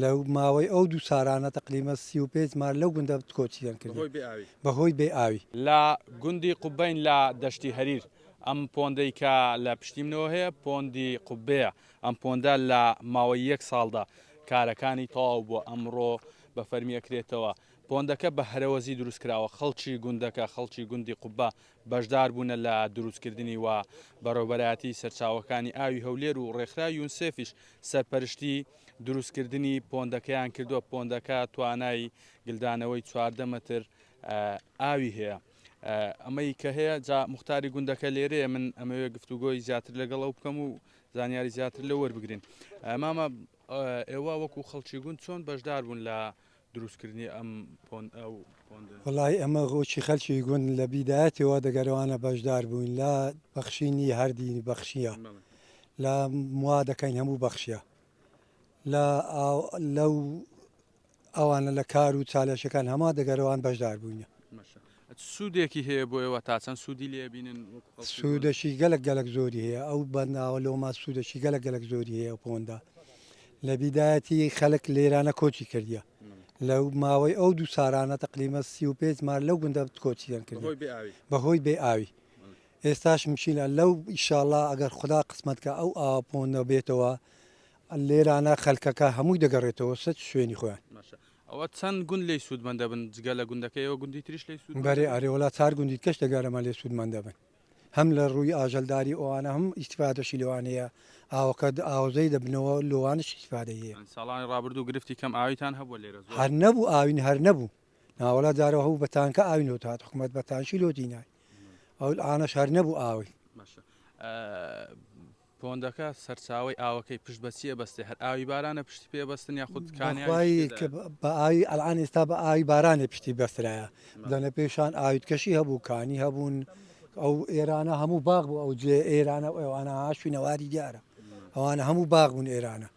لە ماوەی ئەو دوو سارانە تەقریبەن سی و پێنج مار لەو گوندە کۆچیان کرد بەهۆی بێ ئاوی. لە گوندی قوبەین لە دەشتی هەریر. ئەم پۆندەی کە لە پشتی منەوە هەیە پۆندی قوبەیە. ئەم پۆندە لە ماوەی یەک ساڵدا کارەکانی تەواو بووە، ئەمڕۆ بە فەرمی ئەکرێتەوە. پۆندەکە بە هەرەوەزی دروست کراوە. خەڵکی گوندەکە، خەڵکی گوندی قوبە بەشدار بوونە لە دروست کردنی و بەڕێوبەرایەتی سەرچاوەکانی ئاوی هەولێر و ڕێکخراوی یونسێفیش سەرپەرشتی دروست کردنی پۆندەکەیان کردووە پۆندەکە توانای گلدانەوەی چواردە مەتر ئاوی هەیە ئەمەی کە هەیە جا مختاری گوندەکە لێرەیە من ئەمەوێ گفتوگۆی زیاتر لەگەڵ ئەو بکەم و زانیاری زیاتر لە وەربگرین مامە ئێوە وەکو خەڵکی گوند چۆن بەشدار بوون لە دروستکردنی ئەم پۆند ئەو پۆندە. وەڵاهی ئەمە غۆکی خەلکی گوند لە بیدایەتیەوە دەگەرەوانە بەشدار بووین لە بەخشینی هەر دینی بەخشیە لە موا دەکەین هەموو بەخشیە لە لەو ئەوانە لە کار و چالەشەکان هەما دەگەرەوان بەشدار بووینە. چ سوودێکی هەیە بۆ ئێوە؟ تا چەند سوودی لێ ئەبینن وەکو خەڵکی پۆند؟ سوودەکی گەلەک گەلەک زۆری هەیە ئەو بەنداوە لۆما سوودەکی گەلەک گەلەک زۆری هەیە ئەو پۆندە لە بیدایەتی خەلک لێرانە کۆچی کردیە لەو ماوەی ئەو دوو سارانە تەقلیمە سی و پێنج مار لەو گوندە کۆچیان کرد بەهۆی بێ ئاوی بەهۆی بێ ئاوی ئێستاش مشیلە لەو ئیشاڵا ئەگەر خدا قسمەتکە ئەو ئاوە پۆندە بێتەوە لێرانە خەلکەکە هەمووی دەگەڕێتەوە سەر شوێنی خۆیان ماشا ئەوە چەند گوند لێی سوودمەند دەبن جگە لە گوندەکەی ئێوە گوندی تریش لێی سوودمەند دەبن؟ بەرێ ئەرێ وەڵا چار گوندی دیکەش لە گەرەمە لێ سوودمەند دەبن هەم لە ڕووی ئاژەلداری ئەوانە هەم ئیستیفادەشی لێوان هەیە ئاوەکە ئاوەزەی دەبنەوە لۆوانش ئیستیفادەی هەیە. یانی ساڵانی ڕابردوو گرفتی کەم ئاویتان هەبووە لێرە زۆر؟ هەر نەبوو ئاوین هەر نەبوو نا وەڵا جارەوە هەبوو بە تانکە ئاوی لۆ دەهات حکومەت بە تانشی لۆ دینای ئەوئانەش هەر نەبوو ئاوی. باشە پۆندەکە سەرچاوەی ئاوەکەی پشت بە چیە بەستێ هەر ئاوی بارانە پشتی پێ بەستن یا خود کانیاوی پشتی تێدایە؟ بەخوای کە بە ئاوی ئەلعان ئێستا بە ئاوی بارانێ پشتی بەسترایە دەنە پێشان ئاوی دکەشی هەبوو کانی هەبوون ئەو ئێرانە هەموو باغ بوو ئەو جێ ئێرانە و ئێوانە ها شوینەواری دیارە ئەوانە هەموو باغ بوون ئێرانە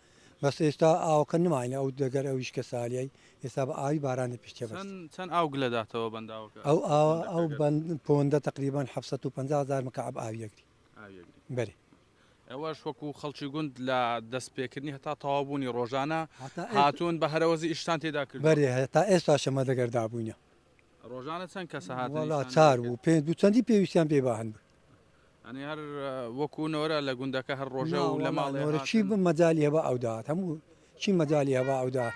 بەس ئێستا ئاوەکە نماینە ئەو دەگەر ئەویش کە سالیای ئێستا بە ئاوی بارانێ پشتێ بەست چەند چەند ئاو گلە داتەوە بەنداوەکە ئەو ئاوە ئەو پۆندەکە گەر بەند پۆندە تەقریبەن حەفسەت و پەنجا هەزار مکەعەب ئاوی ئەگری. بەری ئەوەش وەکو خەڵکی گوند لە دەستپێکردنی هەتا تەوابوونی ڕۆژانە هاتوون بە هەرەوەزی ئیشتان تێدا کرد بەێ تا ئێستا شەمە دەگەردا بووینە ڕۆژانە چەند کەسە هاتڵا چار بوو پێ دوو چەندی پێویستیان پێ باهن بوو ئەنی هەر وەکو نۆرە لە گوندەکە هەر ڕۆژە و لە ماڵێ چی بم مەجای هەبا ئەودات هەموو چی مەجای هەبا ئەودات.